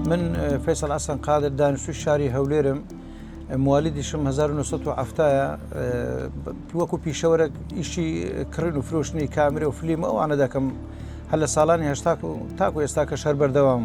من فیصل ئەسەن قادر دانیشتوی شاری هەولێرم موالیدیشم 1970 وەکو پیشەوەرە ئیشی کڕین و فرۆشتنی کامرە و فلیم ئەوانە دەکەم هەر لە ساڵانی هشتا تاکو ئێستا کە شەر بەردەوام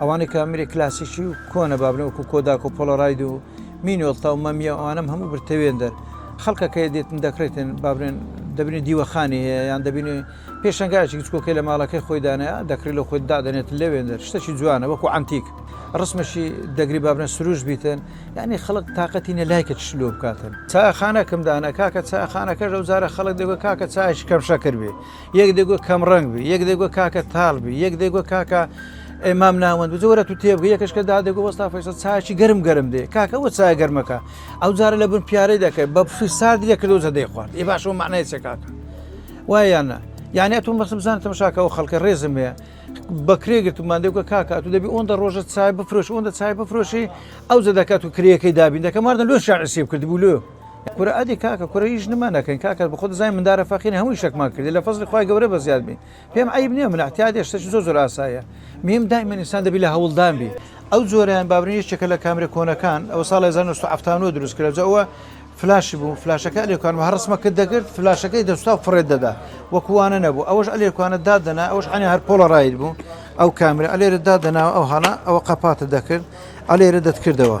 ئەوانەی کە میری کلاسیکی و کۆنە بابنە وەکو کۆداک و پۆلەراید و مینۆڵتا و مەمیە ئەوانم هەموو برتەوێن دەر خەڵکەکەی دێتن دەکرێتن بابنێن دەبنی دیوەخانی هەیە یان دەبینی پێشنگایکی گچکۆکەی لە ماڵەکەی خۆی دانەیە دەکری لە خۆی دادەنێت لەوێن دەر شتەکی جوانە وەکو ئەنتیک ڕسمەشی دەگری بابنە سروش بیتن یعنی خەڵک تااقەتی نە لایکە شلۆ بکاتن چاخانەکەم دانە کاکە چاخانەکە لەو جارە خەڵک دەگوت کاکە چایش کەم شەکر بێ یەک دەگوت کەم ڕەنگ بی یەک دەگوت کاکە تاڵ بی یەک دەگوت کاکە ئەمام ناوەند بزە وەرە تو تێبگە یەکەشکە دا دەگو وەستا فەیسە چاچی گەرم گەرم دێ کاکە وە چای گەرمەکە ئەو جارە لە بن پیارەی دەکەێت بە بفی سارد لێ کردو زە دەی خوارد ی باشەوە معنای چێ کاکە وایانە یانە تو مەسم بزان تەمەشاکە و خەڵکە ڕێزم هەیە بەکرێ گرتمان دەگوە کاکە تو دەبی ئەوەندە ڕۆژە چای بفرۆش ئەوەندە چای بفرۆشی ئەو زە دەکات و کرێەکەی دابین دەکەماردە لۆ شعرسی کرد بوو لۆ کورە ئەدی کاکە کورە هیچ نما نەکەین کاکە بە خۆت زای مندارە فەقیرە هەمووی شەکمان کردی لە فەزلی خوای گەورە بە زیاد بین پێم عیب نییە من اعتیادی شتەکی زۆر زۆر ئاسایە میم دائما انسان دەبی لە هەوڵدان بی ئەو جۆرەیان بابرین یەکێکە لە کامرە کۆنەکان ئەوە ساڵی 1970 دروست کرا جا ئەوە فلاشی بوو فلاشەکە ئەلێکانمە هەر ڕسمە کرد دەگرت فلاشەکەی دەستا و فڕێت دەدا وەکووانە نەبوو ئەوەش ئەلێکانە دادنا ئەوش عێنە هەر پۆڵە ڕایت بوو ئەو کامرە ئەلێرە دادناوە ئەو هەڵە ئەوە قەپاتە دەکرد ئەلێرە دەتکردەوە